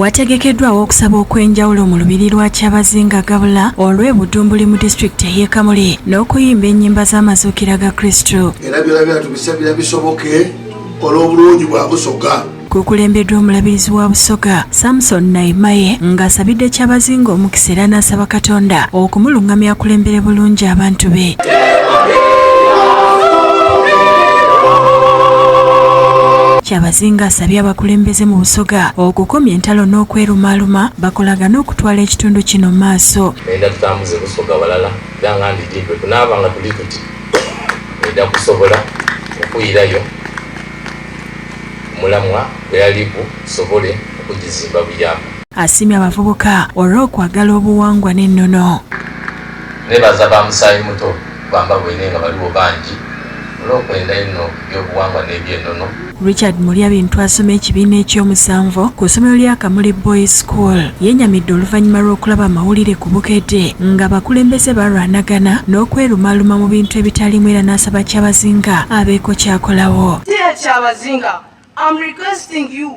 wategekeddwawo okusaba okw'enjawulo mu lubiri lwa kyabazinga gabula olw'e budumbuli mu disitulikiti ey'e kamuli n'okuyimba ennyimba z'amazuukira ga kristu era byona byona tubisabira bisoboke olw'obulungi bwa busoga kukulembeddwa omulabirizi wa busoga samson naimaye ng'asabidde kyabazinga omukisa era n'asaba katonda okumulungamya akulembere bulungi abantu be Ssinga asabye abakulembeze mu Busoga okukomya entalo n'okwerumaaluma bakolagane okutwala ekitundu kino mu maaso. Ngenda tutambuze Busoga walala era nga ndidi bwe tunaaba nga tuli tuti ngenda kusobola okuyirayo omulamwa gwe yali gusobole okugizimba buyamba. Asiimye abavubuka olw'okwagala obuwangwa n'ennono. Neebaza ba musaayimuto bamba bwine nga baliwo bangi olw'okwenda enno. by'obuwangwa n'eby'enono. Richard Mulyabintu asoma ekibiina eky'omusanvu ku ssomero lya Kamuli Boys School yenyamidde oluvannyuma lw'okulaba amawulire ku Bukedde nga bakulembeze balwanagana n'okwerumaaluma mu bintu ebitalimu era n'asaba Kyabazinga abeeko kyakolawo. Dear Kyabazinga, I'm requesting you